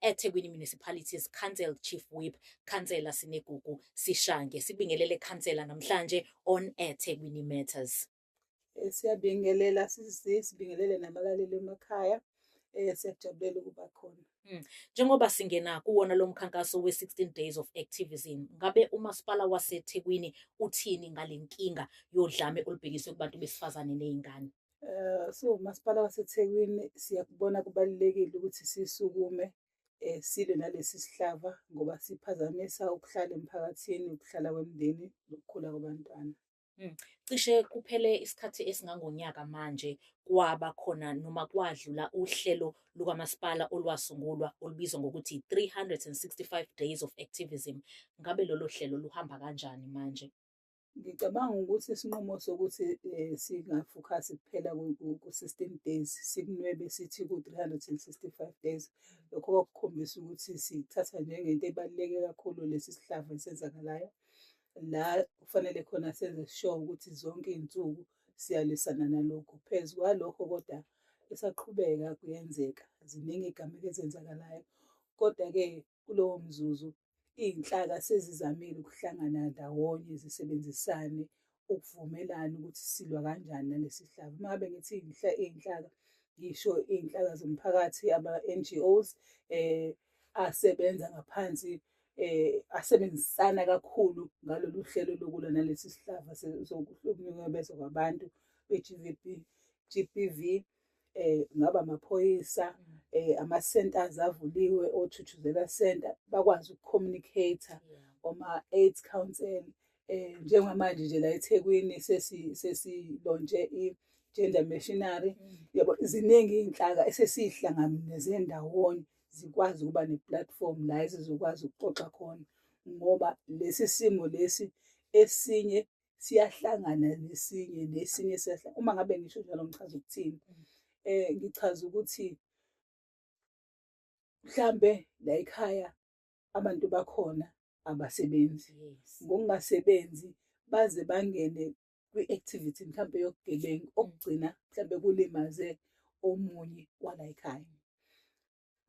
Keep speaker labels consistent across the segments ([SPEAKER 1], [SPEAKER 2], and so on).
[SPEAKER 1] eThekwini Municipalities Council Chief Whip Khansela Sinegugu Sishange sibingelele khansela namhlanje on eThekwini Matters. Eh, siyabingelela
[SPEAKER 2] sisi sibingelele nabalaleli emakhaya eh siyajabulela ukuba khona hmm. njengoba
[SPEAKER 1] singena kuwona lo mkhankaso we-16 days of activism ngabe umasipala wasethekwini uthini ngale nkinga yodlame olubhekiswe kubantu besifazane ney'ngane Eh,
[SPEAKER 2] siwumasipala waseThekwini siyakubona kubalulekile ukuthi sisukume eh, silwe nalesi sihlava ngoba siphazamisa ukuhlala emphakathini, ukuhlala kwemindeni nokukhula kwabantwana. Hmm. Cishe
[SPEAKER 1] kuphele isikhathi esingangonyaka manje kwaba khona noma kwadlula uhlelo lukamasipala olwasungulwa olubizwa ngokuthi 365 Days of Activism. Ngabe lolo hlelo luhamba kanjani manje? Ngicabanga
[SPEAKER 2] ukuthi isinqumo sokuthi eh, singafokhasi kuphela ku-system days sikunwebe sithi ku-365 days lokho kwakukhombisa ukuthi sithatha njengento ebaluleke kakhulu lesi sihlava esenzakalayo la kufanele khona senze sure ukuthi zonke iy'nsuku siyalwisana nalokho phezu kwalokho kodwa esaqhubeka kuyenzeka ziningi igameko ezenzakalayo kodwa-ke Kulowo mzuzu, iy'nhlaka sezizamile ukuhlangana ndawonye zisebenzisane ukuvumelana ukuthi silwa kanjani nalesi sihlava. Uma ngabe ngithi iy'nhlaka, ngisho iy'nhlaka zomphakathi, ama-NGOs, um asebenza ngaphansi eh asebenzisana kakhulu ngalolu hlelo lokulwa nalesi sihlava sokuhlukunyezwa kwabantu be-GVB GBV eh ngaba amaphoyisa mm. eh ama centers avuliwe othuthuzela center bakwazi ukucommunicate oma AIDS council eh njengamanje nje la eThekwini sesi sesilonje i gender machinery mm. yabo ziningi izinhlaka esesihlanganise ndawonye zikwazi ukuba ne platform la ezizokwazi ukuxoxa khona ngoba lesi simo lesi esinye siyahlangana nesinye nesinye siyahlangana uma ngabe ngisho njalo ngichaza ukuthini um mm. ngichaza ukuthi mhlambe la ekhaya abantu bakhona abasebenzi ngokungasebenzi baze bangene kwi-activity mhlambe yokugebengu mm. okugcina mhlambe kulimaze omunye wala ekhaya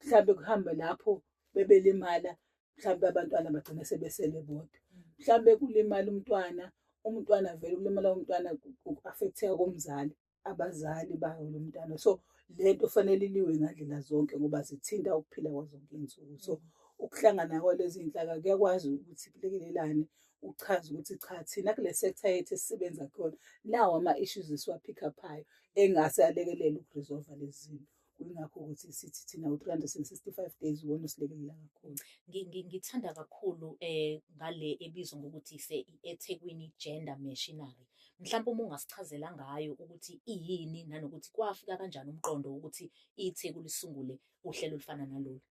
[SPEAKER 2] mhlawumbe kuhambe lapho bebelimala mhlawumbe abantwana bagcine sebesele bodwa mhlawumbe kulimala umntwana umntwana vele ukulimala umntwana ku-affecteka komzali abazali bayo lo mntwana so le nto fanele iliwe ngandlela zonke ngoba zithinta ukuphila kwazonke iy'nsuku so ukuhlangana kwalezi nhlaka kuyakwazi ukuthi kulekelelane uchaze ukuthi cha thina kule sector yethu esisebenza kuyona nawo ama-issues esiwaphikaphayo engase alekelele ukuresolva lezi zinto kuyingakho ukuthi sithi thina u-365 days wona usilekelela kakhulu ngithanda
[SPEAKER 1] kakhulu um ngale ebizwa ngokuthi ise-ethekwini gender machinery mhlawumbe uma ungasichazela ngayo ukuthi iyini nanokuthi kwafika kanjani umqondo wokuthi itheku lisungule uhlelo olufana nalolu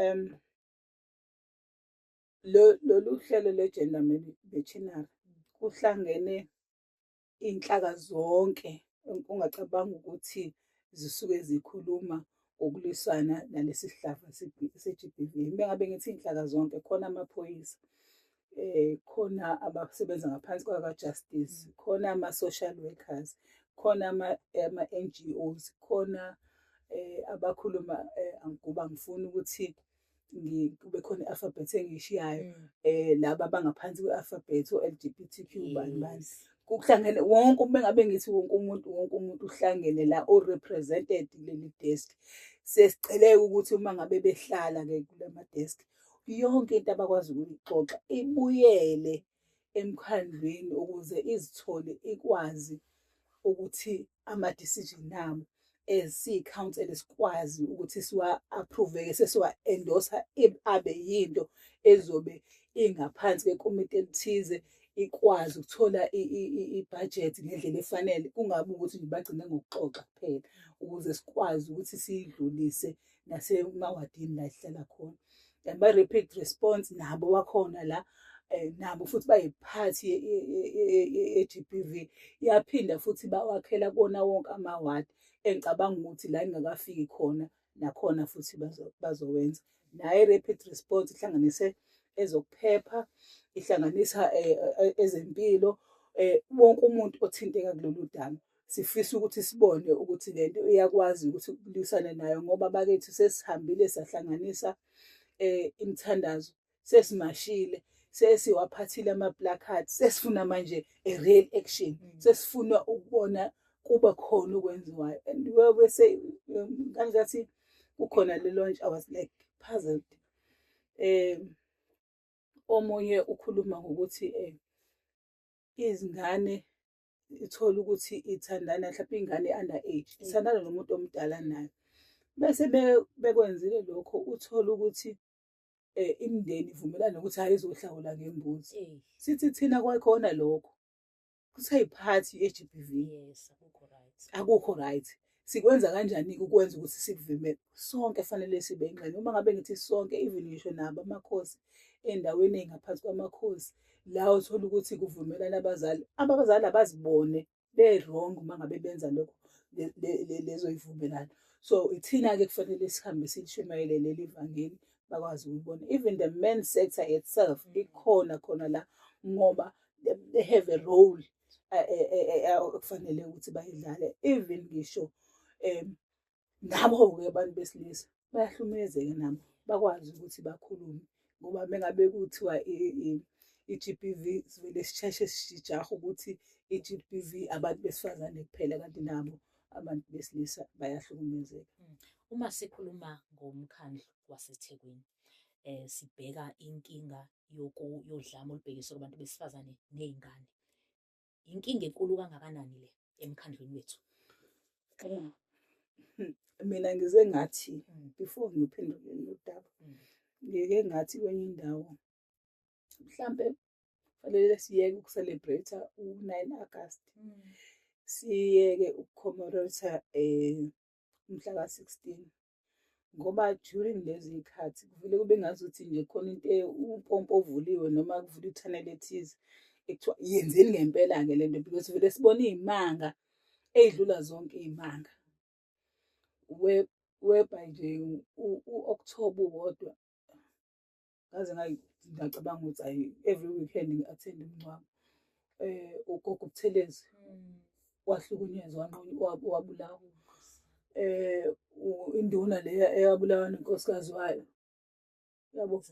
[SPEAKER 1] um
[SPEAKER 2] lolu hlelo le-gender machinery kuhlangene iy'nhlaka zonke ongacabanga ukuthi zisuke zikhuluma ngokulwisana nalesi sihlava se-GBV. Uma ngabe ngithi iy'nhlaka zonke khona amaphoyisa eh khona abasebenza ngaphansi kwaka-justice khona ama-social workers khona ama-NGOs khona eh abakhuluma eh angikuba ngifuna ukuthi kube khona i-alphabet engiyishiyayo um mm. eh, laba abangaphansi kwe-alphabet o-l g b t q bani bani kuhlangene wonke uma ngabe ngithi wonke umuntu wonke umuntu uhlangene la o-represented kuleli desk sesiceleka ukuthi uma ngabe behlala-ke kula madesk yonke into abakwazi ukuyixoxa ibuyele emkhandlwini ukuze izithole ikwazi ukuthi ama-decision abo as siyi-council sikwazi ukuthi siwa-approve-ke sesiwa-endosa abe yinto ezobe ingaphansi kwekomiti elithize ikwazi ukuthola ibhajethi ngendlela efanele kungabi ukuthi nje bagcine ngokuxoxa kuphela ukuze sikwazi ukuthi siyidlulise um nasemawadini la esihlala khona and ba-rapid response nabo wakhona la um nabo futhi bayiphathi ye-g b v iyaphinda futhi bawakhela kona wonke amawadi engicabanga ukuthi la ingakafiki khona nakhona futhi bazowenza naye rapid response ihlanganise ezokuphepha ihlanganisa eh, eh, ezempilo eh, wonke umuntu othinteka kulolu daba sifisa ukuthi sibone ukuthi le nto iyakwazi ukuthi kulwisane nayo ngoba bakethu sesihambile sahlanganisa um imithandazo sesimashile sesiwaphathile ama-placard sesifuna manje a real action mm. sesifuna ukubona kuba khona okwenziwayo and webese um, kangathi kukhona le launch i was like puzzled um omunye ukhuluma ngokuthi um izingane ithole ukuthi ithandana mhlawumbe ingane under age mm. ithandana nomuntu omdala nayo bese bekwenzile lokho uthole ukuthi eh imndeni ivumelana ukuthi hayi izohlawula ngembuzi eh. sithi thina kwakhona lokho kusayiphathi ye-GBV yes akukho
[SPEAKER 1] right akukho right
[SPEAKER 2] sikwenza kanjani-ke ukwenza ukuthi sikuvimele sonke fanele sibe ingxenye uma ngabe ngithi sonke even ngisho nabo amakhosi endaweni ey'ngaphansi kwamakhosi la uthola ukuthi kuvumelana abazali abazali abazibone be-wrong uma ngabe benza lokho lezoyivumelana so ithina-ke kufanele sihambe silishumayele leli vangeli bakwazi ukuyibona even the men sector itself likhona khona la ngoba they have a role okufanele ukuthi bayidlale even ngisho um nabo-ke abantu besilisa bayahlukumezeke nabo bakwazi ukuthi bakhulume ngoba mengabe kuthiwa i-g b v sivele sisheshe sijaha ukuthi i-g b v abantu besifazane kuphela kanti nabo abantu besilisa bayahlukumezeka hmm. uma
[SPEAKER 1] sikhuluma ngomkhandlu wasethekwini um sibheka inkinga yodlame olubhekiswe kubantu besifazane nezingane. Inkinga enkulu kangakanani le emkhandlwini wethu?
[SPEAKER 2] Mina ngize ngathi mm. before ngiphendule lodaba. Mm. Ngike ngathi kwenye indawo mhlambe kufanele siyeke ukucelebrate u-9 August. Mm. Siyeke ukucommemorate eh umhla ka-16. ngoba during lezi y'khathi kuvele kube ngazuthi nje khona into umpompo ovuliwe noma kuvula i-channel ethize ekuthiwa yenzeni ngempela-ke le nto because vele sibona iy'manga ey'dlula zonke iy'manga weba nje u-october wodwa ngaze ngacabanga ukuthi ayi every weekend ngi-attend umngcwabo eh ugogo ubuthelezi mm. wahlukunyezwa wabulawa eh induna leya eyabulawa nenkosikazi wayo yabo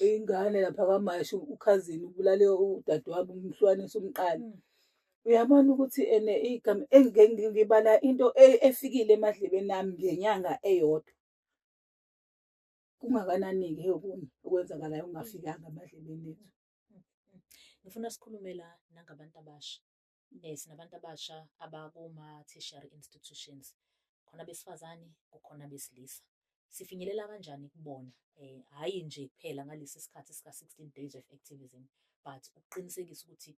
[SPEAKER 2] ingane lapha kwamashi ukhazini ubulale udadewabo umhlwanisa umqala mm. uyabona ukuthi ene igama engibala into e, efikile emadlebeni nami ngenyanga eyodwa kungakanani-ke okunye okwenzakalayo kungafikanga emadlebeni ethu
[SPEAKER 1] ngifuna sikhulumela nangabantu abasha um sinabantu abasha abakuma-tertiary institutions khona besifazane kukhona besilisa sifinyelela kanjani kubona um hhayi nje kuphela ngalesi sikhathi sika-sixteen days of activism but ukuqinisekisa ukuthi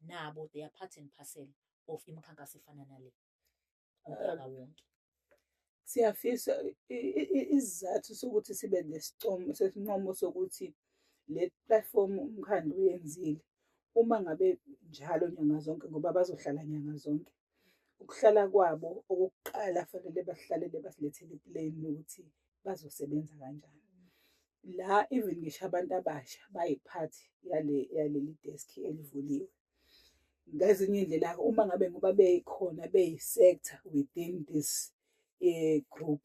[SPEAKER 1] nabo they are part and parcel of imikhankaso efana nale umntwana
[SPEAKER 2] wonke siyafisa isizathu sokuthi sibe nesicomo sesincomo sokuthi le platform umkhandlu uyenzile uma ngabe njalo nyanga zonke ngoba bazohlala nyanga zonke ukuhlala kwabo okokuqala fanele bahlalele basilethele iplane ukuthi bazosebenza kanjani la even ngisho abantu abasha bayiphathi yale yaleli desk elivuliwe ngezinye indlela uma ngabe ngoba beyikhona beyi-sector within this um group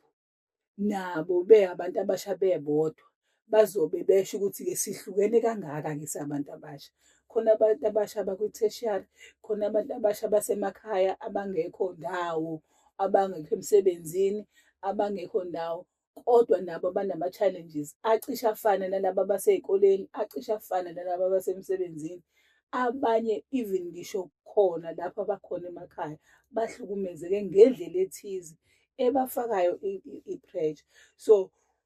[SPEAKER 2] nabo be abantu abasha bebodwa bazobe besho ukuthi-ke sihlukene kangaka-ke sabantu abasha khona abantu abasha abakwi-tertiary khona abantu abasha basemakhaya abangekho ndawo abangekho emsebenzini abangekho ndawo kodwa nabo banama-challenges acishe afane nalaba abasey'koleni acishe afane nalaba abasemsebenzini abanye even ngisho khona lapho abakhona emakhaya bahlukumezeke ngendlela ethize ebafakayo i-pressure so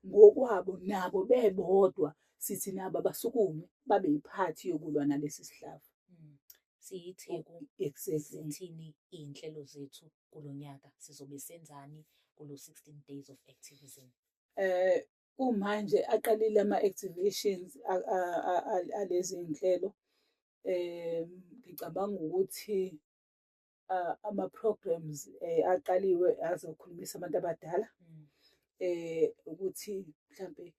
[SPEAKER 2] ngokwabo nabo bebodwa sithi nabo abasukume babe yiphathi yokulwa nalesi sihlava hmm. siyitheku sithini
[SPEAKER 1] iy'nhlelo zethu kulo nyaka sizobe senzani kulo 16 days of activism eh
[SPEAKER 2] kumanje aqalile ama activations alezi nhlelo eh ngicabanga ukuthi ama programs eh, aqaliwe azokhulumisa abantu abadala mm. eh ukuthi mhlambe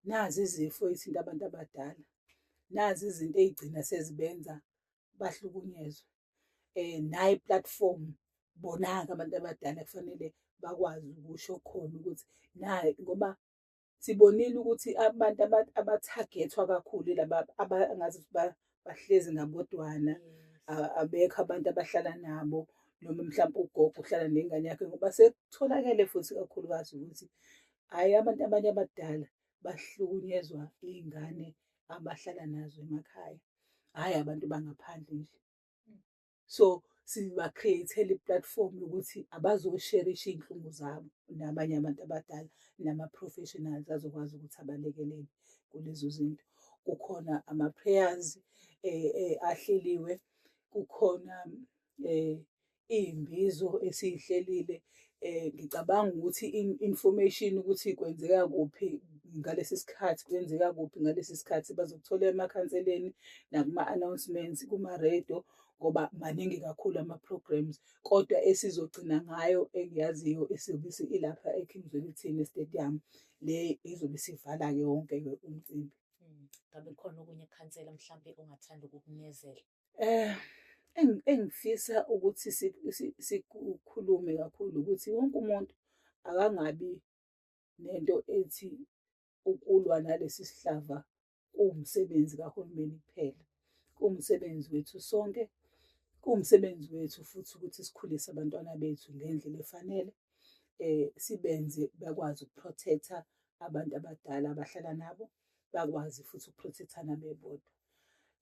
[SPEAKER 2] nazi izifo izinto abantu abadala nazi izinto ezigcina sezibenza bahlukunyezwe eh nayi platform bonaka abantu abadala kufanele bakwazi ukusho khona ukuthi naye ngoba sibonile ukuthi abantu abathagethwa kakhulu laba abangazi ukuthi bahlezi ngabodwana abekho abantu abahlala nabo noma mhlawumbe ugogo uhlala nengane yakhe ngoba sekutholakele futhi kakhulukazi ukuthi hhayi abantu abanye abadala bahlukunyezwa iy'ngane abahlala nazo emakhaya hhayi abantu bangaphandle nje mm. so siba-create-ele i-platform yokuthi abazosherisha iy'nhlungu zabo nabanye abantu abadala nama-professionals azokwazi ukuthi abalekelele kulezo zinto kukhona ama-prayers um ahleliwe kukhona um iy'mbizo esiyihlelile um ngicabanga ukuthi information ukuthi kwenzeka kuphi ngalesi sikhathi kwenzeka kuphi ngalesi sikhathi bazokuthola emakhanseleni nakuma-announcements kuma-radio ngoba maningi kakhulu ama-programs kodwa esizogcina ngayo engiyaziyo esiyobe ilapha eking zwelithini stadium le izobe isivala-ke wonke-ke umcimbi ngabe khona
[SPEAKER 1] okunye khansela mhlawumbe ongathanda ukukunezela eh
[SPEAKER 2] engifisa ukuthi sikhulume kakhulu ukuthi wonke umuntu akangabi nento ethi ukulwa nalesi sihlava kuwumsebenzi kahulumeni kuphela kuwumsebenzi wethu sonke kuwumsebenzi wethu futhi ukuthi sikhulise abantwana bethu ngendlela efanele eh sibenze bakwazi ukuprotecta abantu abadala abahlala nabo bakwazi futhi ukuprotectana bebodwa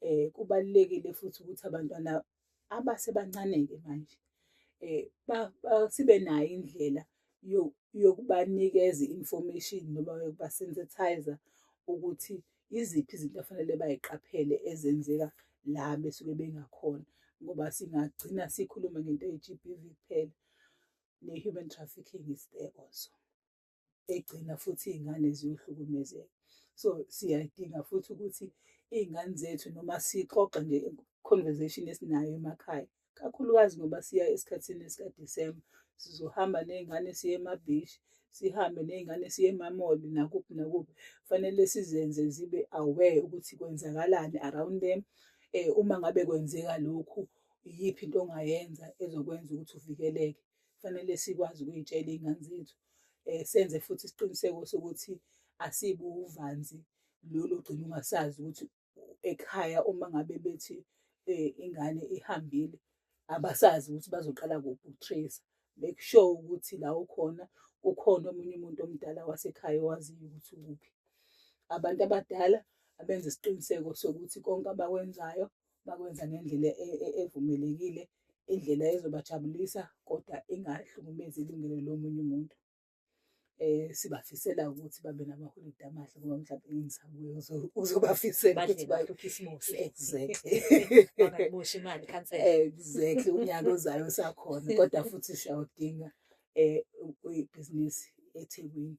[SPEAKER 2] eh kubalekile futhi ukuthi abantwana abasebancaneke manje eh sibe nayo indlela yokubanikeza information noma yokubasensitizer ukuthi iziphi izinto afanele bayiqaphele ezenzeka la besuke bengakhona ngoba singagcina sikhuluma ngento ye-GBV kuphela ne-human trafficking is there also egcina futhi iy'ngane ziyohlukumezeka so siyadinga futhi ukuthi iy'ngane zethu noma sixoxa nje conversation esinayo emakhaya kakhulukazi ngoba siya esikhathini esikadisemba sizohamba ney'ngane siye emabhishi sihambe ney'ngane siye emamoli nakuphi nakuphi kufanele sizenze zibe aware ukuthi kwenzakalani around them um uma ngabe kwenzeka lokhu iyiphi into ongayenza ezokwenza ukuthi uvikeleke kufanele sikwazi ukuyitshela iy'ngane zethu um senze futhi isiqiniseko sokuthi asibuwuvanzi lolu gcina ungasazi ukuthi ekhaya uma ngabe bethi eh, ingane ihambile abasazi ukuthi bazoqala kuphi ukutrace make sure ukuthi la ukhona ukhona omunye umuntu omdala wasekhaya owaziyo ukuthi ukuphi abantu abadala abenza isiqiniseko sokuthi konke abakwenzayo bakwenza ngendlela e-, e-, evumelekile indlela ezobajabulisa kodwa ingahlukumezi ilungelo lomunye umuntu eh sibafisela ukuthi babe namaholide amahle ngoba mhlawumbe ingisabuye uzobafisela ukuthi bayo Christmas
[SPEAKER 1] exactly
[SPEAKER 2] bangaboshi
[SPEAKER 1] imali cancel exactly unyaka
[SPEAKER 2] ozayo sakhona kodwa futhi siyawudinga eh ibhizinisi eThekwini